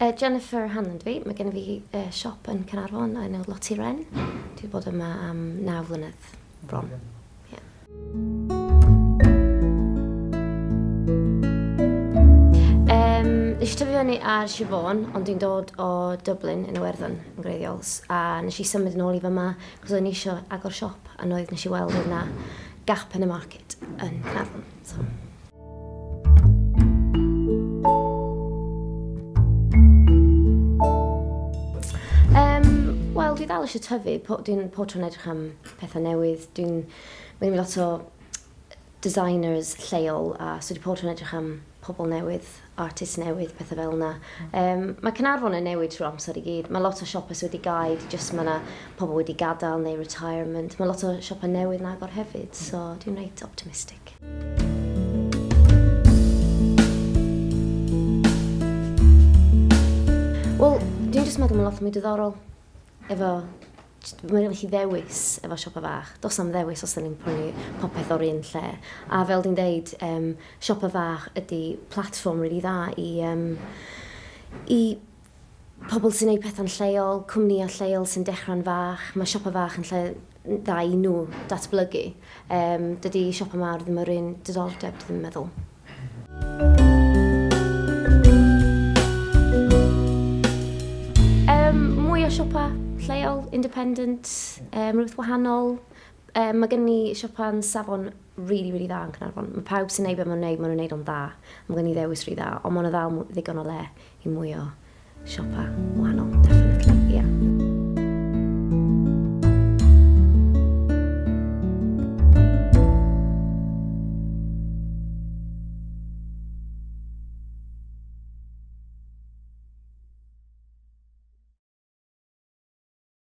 Yy Jennifer Hanlon dw i, mae gennyf fi yy siop yn Caernarfon o'r enw Lottie Wren. Dwi 'di bod yma am naw flynedd bron. Ie. Yym, nes i tyfu fyny ar Sir Fôn, ond dwi'n dod o Dublin yn Iwerddon yn gwreiddiol, s- a nes i symud yn ôl i fyma cos o'n i isio agor siop a 'noedd nes i weld oedd 'na gap in the market yn Caernarfon. dwi dal eisiau tyfu, po, dwi'n po tro'n edrych am pethau newydd, dwi'n mynd i lot o designers lleol a so dwi po tro'n edrych am pobl newydd artist newydd, petha fel 'na. Yym, mae Caernarfon yn newid trwy'r amser i gyd. Mae lot o siopa sy wedi gau, 'di jyst ma' 'na pobl wedi gadael neu retirement. Mae lot o siopa newydd yn agor hefyd, so dwi'n reit optimistic. Wel, dwi'n jyst meddwl ma' lot mwy diddorol. efo, mae gennych chi ddewis efo siopa fach. Does am ddewis os da ni'n prynu popeth o'r un lle. A fel di'n deud, um, siopa fach ydy platform rili really dda i, um, i pobl sy'n gwneud pethau'n lleol, cwmnïau lleol sy'n dechrau'n fach. Mae siopa fach yn lle dda i nhw datblygu. Um, dydy siopa mawr ddim yr un diddordeb, dwi'n meddwl. Um, mwy o siopa lleol, independent, um, rhywbeth wahanol. Um, mae gen ni siopa'n safon really, really dda yn Cynarfon. Mae pawb sy'n neud beth mae'n neud, mae'n nhw'n neud o'n dda. Mae gen ni ddewis rhy dda, ond mae'n ddal ddigon o le i mwy o siopa wahanol definitely yeah.